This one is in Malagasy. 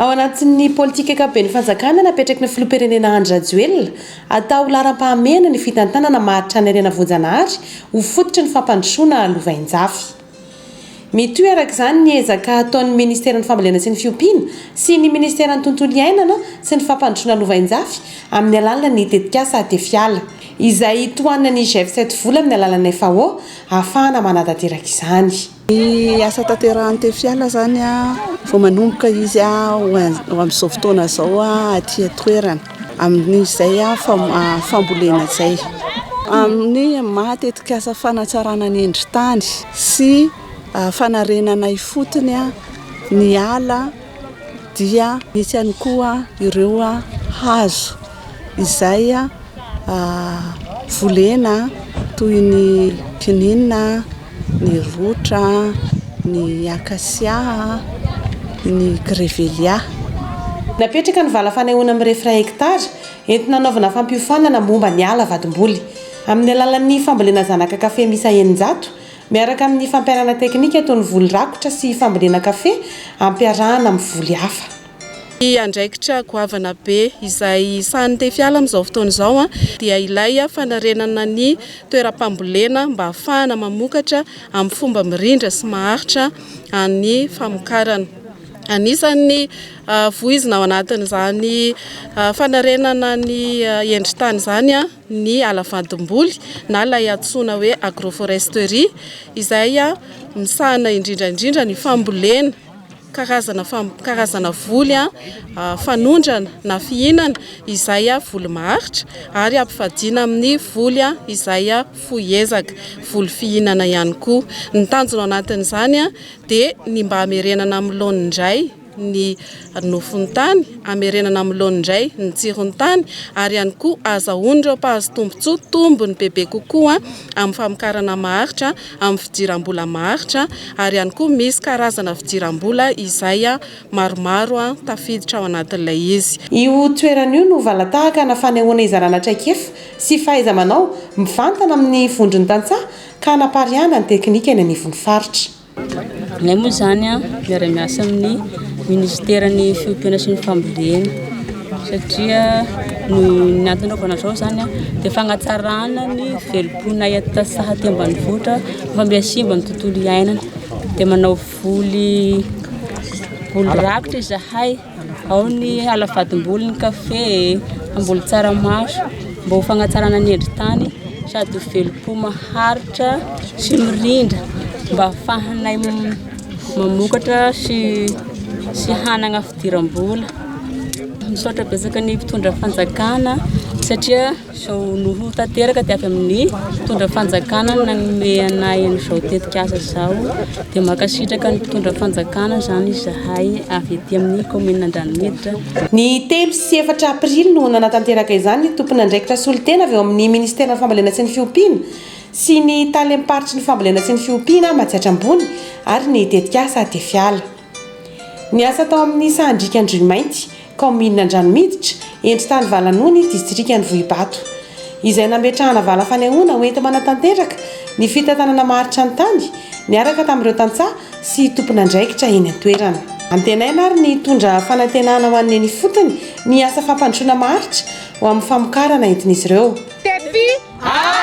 Ao anatin'ny politika ankapoben'ny fanjakana napetraky ny filoham-pirenena Andry Rajoelina, atao laharam-pahamehana ny fitantanana maha tranairenavonjanahary ho fototry ny fampandrosoana lovainjafy. Mitohy araka izany ny ezaka ataon'ny ministeran'ny Fambolena sy ny Fiompiana sy ny ministeran'ny Tontolo iainana sy ny Fampandrosoana Lovainjafy amin'ny alalan'ny tetikasa Tefiala, izay tohanan'ny GEF sept vola amin'ny alalan'ny FAO ahafahana manatanteraka izany. Ny asa tanterahan'ny Tefiala izany vao manomboka izy ho amin'izao fotoana izao aty an-toerana. amin'izay fambolena izay, amin'ny maha tetikasa fanatsarana ny endri-tany sy fanarenana ifotony ny ala dia misy ihany koa ireo hazo izay volena toy ny kininina, ny rotra, ny acacia, ny grevillea. Napetraka ny vala fanehoana mirefy iray hektara entina hanaovana fampiofanana momba ny ala vadimboly, amin'ny alalan'ny fambolena zanaka kafe miisa eninjato, miaraka amin'ny fampiharana teknika toy ny voly rakotra sy fambolena kafe ampiarahana amin'ny voly hafa. Ny andraikitra goavana be izay sahanin'ny Tefiala amin'izao fotoana izao dia ilay fanarenana ny toeram-pambolena mba hahafahana mamokatra amin'ny fomba mirindra sy maharitra ny famokarana. Anisan'ny voizina ao anatin'izany fanarenana ny endri-tany izany ny ala vandim-boly na ilay antsoina hoe agroforesterie izay misahana indrindra indrindra ny fambolena. Karazana karazana voly fanondrana na fihinana izay voly maharitra ary ampivadiana amin'ny voly izay fohy ezaka, voly fihinana ihany koa. Ny tanjona ao anatin'izany dia ny mba hamerenana amin'ny laoniny indray ny nofon'ny tany, hamerenana amin'ny laoniny indray ny tsiron'ny tany ary ihany koa ahazahoan'ireo mpahazo tombontsoa tombony bebe kokoa amin'ny famokarana maharitra. amin'ny fidiram-bola maharitra ary ihany koa misy karazana fidiram-bola izay maromaro tafiditra ao anatin'ilay izy. Io toerana io no valan-tahakana fanehoana hizarana traikefa sy fahaiza-manao mivantana amin'ny vondron'ny tantsaha ka hanapariahana ny teknika eny anivon'ny faritra. Ilay moa izany miara-miasa amin'ny minisiteran'ny fiompiana sy ny fambolena. satria noho ny antony anaovana izao izany dia fanatsarana ny velom-ponay aty Tasaha aty ambanivohitra fa mbola simba ny tontolo iainana dia manao voly voly rakitra izahay ao ny ala vadim-boly ny kafe e, hamboly tsaramaso mba ho fanatsarana ny endri-tany sady ho velom-po maharitra sy mirindra mba hahafahanay mamokatra sy sy hanana fidiram-bola. Misaotra betsaka ny mpitondra fanjakana satria izao no ho tanteraka dia avy amin'ny mpitondra fanjakana no nanome anay an'izao tetikasa izao. Dia mankasitraka ny mpitondra fanjakana izany izahay avy ety amin'ny kaominina Andranomiditra. Ny telo sy efatra aprily no nanatanteraka izany ny tompon'andraikitra solontena avy eo amin'ny minisiteran'ny Fambolena sy ny Fiompiana sy ny talem-paritry ny Fambolena sy ny Fiompiana Matsiatra Ambony ary ny tetikasa Tefiala. Niasa tao amin'ny Sahandriaka Andriamainty, kaominina Andranomiditra, endritany Valanony, distrikan'i Vohibato. Izay nametrahana vala fanehoana ho enti-manatanteraka ny fitantanana maharitra ny tany, niaraka tamin'ireo tantsaha sy tompon'andraikitra eny an-toerana. Antenaina ary ny hitondra fanantenana ho an'ny eny ifotony ny asa fampandrosoana maharitra ho amin'ny famokarana entin'izy ireo. Tepi Aa!